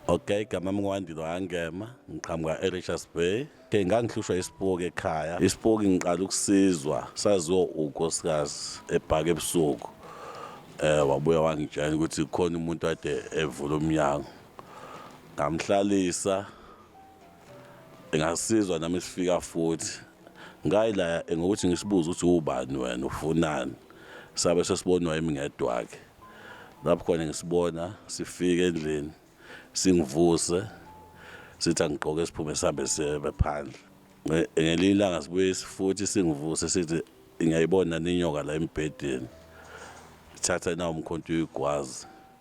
Okay, igama mngwandilo angema ngiqhamuka eRichards Bay ke ngangihlushwa isipoki ekhaya isipoki ngiqala ukusizwa saziwa unkosikazi ebhaka ebusuku eh wabuya wangitshela ukuthi khona umuntu ade evula umnyango ngamhlalisa ngasizwa nami sifika futhi ngayilaya ngokuthi ngisibuze ukuthi ubani wena ufunani sabe sesibonwa yimi ngedwa-ke lapho khona ngisibona sifike endlini singivuse sithi angigqoke siphume sihambe sibe phandle ngelinye ilanga sibuye futhi singivuse sithi ngiyayibona ninyoka la embhedeni thatha nawo umkhonto uyigwazi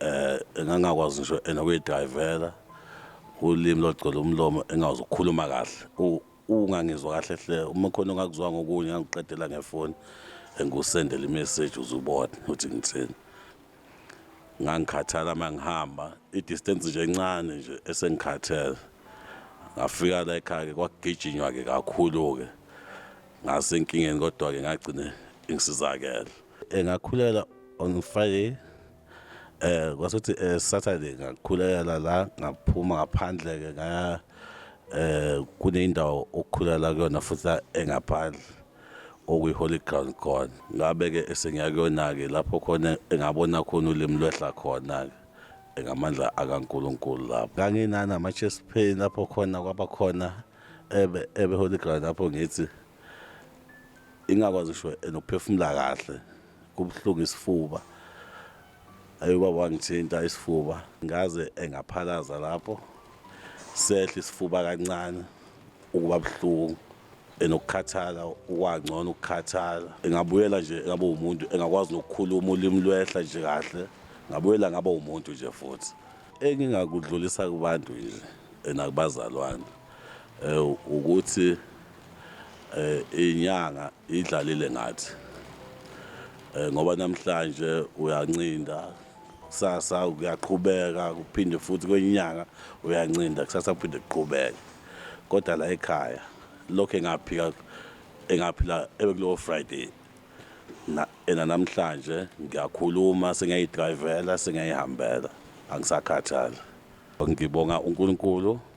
eh engangakwazi ngisho enokuyidrivela ulimi logcwele umlomo engakwazi ukukhuluma kahle ungangizwa kahle hle uma khona ongakuzwa ngokunye ngangiqedela ngefoni engikusendela imessage uzubona ukuthi ngithini ngangikhathala uma ngihamba i-distance nje encane nje esengikhathele ngafika la ekhaya-ke kwakugijinywa-ke kakhulu-ke ngasenkingeni kodwa-ke ngagcine ngisizakele engakhulela on friday eh kwasuthi eh, Saturday ngakhulekela la ngaphuma ngaphandle ke ngaya eh kuneyindawo okukhulela kuyona futhi engaphandle okuyi holy ground khona ngabe ke esengiya kuyona ke lapho khona engabona khona ulimi lwehla khona ke engamandla akaNkuluNkulu lapho nganginana ama chest pain lapho khona kwaba khona ebe ebe holy ground lapho ngithi ingakwazi sho enokuphefumula kahle kubuhlungu isifuba ayi ubaba wangithinta isifuba ngaze engaphalaza lapho sehla isifuba kancane ukuba buhlungu enokukhathala ukwangcono ukukhathala engabuyela nje ngabe umuntu engakwazi nokukhuluma ulimi lwehla nje kahle ngabuyela ngaba umuntu nje futhi engingakudlulisa kubantu nje enakubazalwane Ukuthi inyanga idlalile ngathi ngoba namhlanje uyancinda kusasa kuyaqhubeka kuphinde futhi kwenye inyanga uyancinda kusasa kuphinde kuqhubeke. Kodwa la ekhaya lokhu engaphika engaphila ebekulowo Friday ena namhlanje ngiyakhuluma sengiyayidrayivela sengiyayihambela angisakhathali. Ngibonga uNkulunkulu